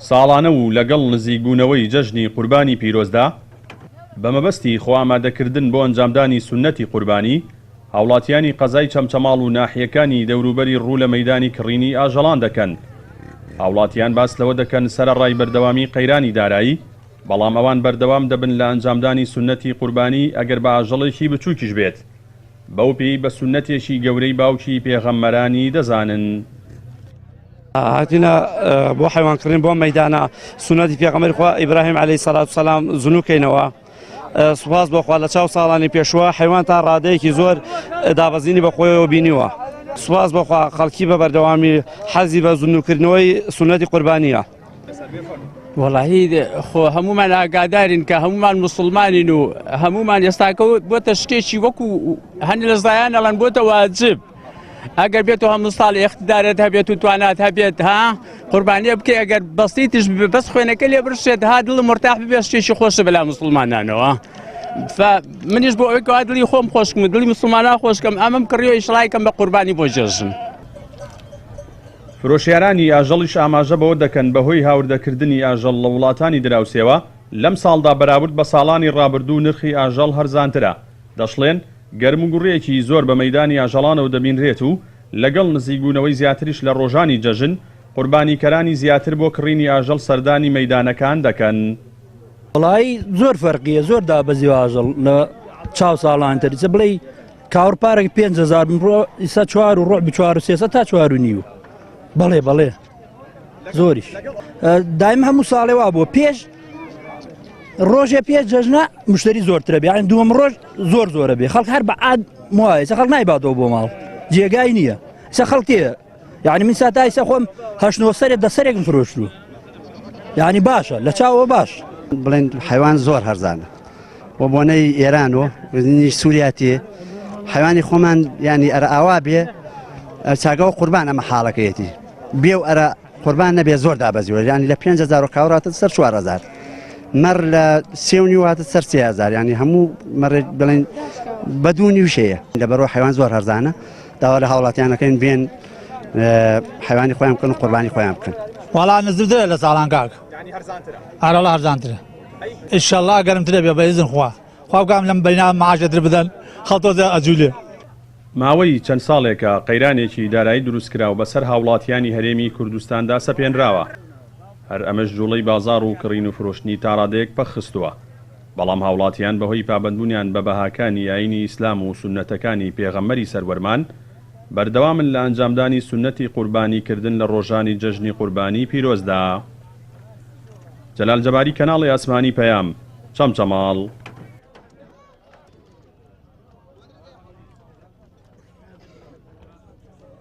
ساڵانە و لەگەڵ نزیکبوونەوەی جەژنی قوربانی پیرۆزدا، بە مەبەستی خۆئامادەکردن بۆ ئەنجامدانی سوننەتی قوربانی، هاوڵاتییانی قەزای چەمچەماڵ و ناحیەکانی دەوروبەری ڕوو لە مەیدانی کڕینی ئاژەڵان دەکەن. هاوڵاتییان باس لەوە دەکەن سەرەڕای بەردەوامی قەیرانی دارایی، بەڵام ئەوان بەردەوام دەبن لە ئەنجامدانی سوننەتی قوربانی ئەگەر بە ئاژەڵێکی بچووکیش بێت. بەو پێی بە سوننەتێکی گەورەی باوکی پێغەمبەرانی دەزانن. هاتینە بۆ حیوان کڕین بۆ مەدانە سونەتی پێغەمەری خوا ئیبراهیم عليه سەلات سەسلام زنوکەینەوە سوپاس بۆخوا لە چاو ساڵانی پێشوە حیوان تا ڕادەیەکی زۆر دابەزینی بەخۆیەوە بینیوە سوپاس بۆخوا خەڵکی بە بەردەوامی حەزی بە زنوکردنەوەی سونەتی قوربانیە. وەڵاهی خۆ هەمومان ئاگادارین کە هەمومان مسلمانین و هەمومان ئێستاکە بۆتە شتێکی وەکو هەند لە زایان ئەڵەن بۆتە واجب ئەگەر بێت و هەموو ساڵ ئێختدارێت هەبێت و توانات هەبێت ها قوربانیە بکە ئەگەر بەستی تش بەس خوێنەکە لێ برشێت ها دڵ مرتاح ببێت شتێکی خۆشە بەلا مسلمانانەوە. منیش بۆ ئەوەی کەوا دڵی خۆم خۆشکم دڵی مسلمانان خۆشکەم ئەمەم کڕیەوە ئیشڵایکەم بە قوربانی بۆ جێژم. فرۆشیارانی ئاژەڵیش ئاماژە بەوە دەکەن، بەهۆی هاوردەکردنی ئاژەڵ لە وڵاتانی دراوسێوە، لەمساڵدا بەراورد بە ساڵانی ڕابردوو نرخی ئاژەڵ هەرزانترە، دەشڵێن، گەرموگوڕێکی زۆر بە مەیدانی ئاژەڵانەوە دەبینرێت و لەگەڵ نزیکبوونەوەی زیاتریش لە ڕۆژانی جەژن، قوربانیکەرانی زیاتر بۆ کڕینی ئاژەڵ سەردانی مەیدانەکان دەکەن. وەڵایی زۆر فەرقیە زۆر دابەزیوە ئاژەڵ لە چاو ساڵانتر ئیسە بڵێی. کاوڕ پارەک پێ هزار بڕۆ ئیسا چوار و ڕۆبی چوار و سێسە تا چوار و نیو بەڵێ بەڵێ زۆریش دایم هەموو ساڵێ وا بووە پێش ڕۆژێ پێ جەژنە مشتری زۆرترە بیان دووەم ڕۆژ زۆر زۆرە بێ خەڵک هەر بە عاد وایە خەڵ نایباتەوە بۆ ماڵ جێگای نییە سە خەڵکێ یانی من ساتا ئیسە خۆم هەشت نۆ سەرێ دە سەرێکم فرۆشت و یانی باشە لە چاوە باش بڵێن حیوان زۆر هەرزانە و بۆنەی ئێران و وزنی سووریاتی حیوانی خۆمان ینی ئەرە ئاوا بێ چاگەەوە قوربان ئەمە حاڵەکەیەتی بێ و ئەرە قوربان نەبێ زۆر دابەزیوە ینی لە 5هزار کاوراتە سەر 4هزار مەڕ لە سێونی واتە سەر سێهزار ینی هەموو مەڕێت بڵێن بەدونی وشەیە لە بەرەوە حیوان زۆر هەرزانە داوا لە هاوڵاتیانەکەین بێن حیوانی خۆیان بکەن و قوربانی خۆیان بکەن وڵا نزدرە لە ساڵان کاک ئارەڵ هەرزانترە ئیشەڵا گەرمترە بێ بەزن خوا خواگام لەم بەینا ماژەتر بدەن خەڵتۆزە ئەجوولێ ماوەی چەند ساڵێکە قەیرانێکی دارایی دروستکراو بەسەر هاوڵاتیانی هەرێمی کوردستاندا سەپێنراوە، هەر ئەمەش جوڵەی بازاڕ و کڕین و فرۆشتنی تاڕادەیەک پەک خستووە. بەڵام هاوڵاتیان بەهۆی پابەندبوونیان بە بەهاکانی ئایینی ئیسلام و سوننەتەکانی پێغەمبەری سەروەرمان، بەردەوامن لە ئەنجامدانی سوننەتی قوربانی کردن لە ڕۆژانی جەژنی قوربانی پیرۆزدا. جەلال جەباری کەناڵی ئاسمانی پەیام، چەمچەماڵ.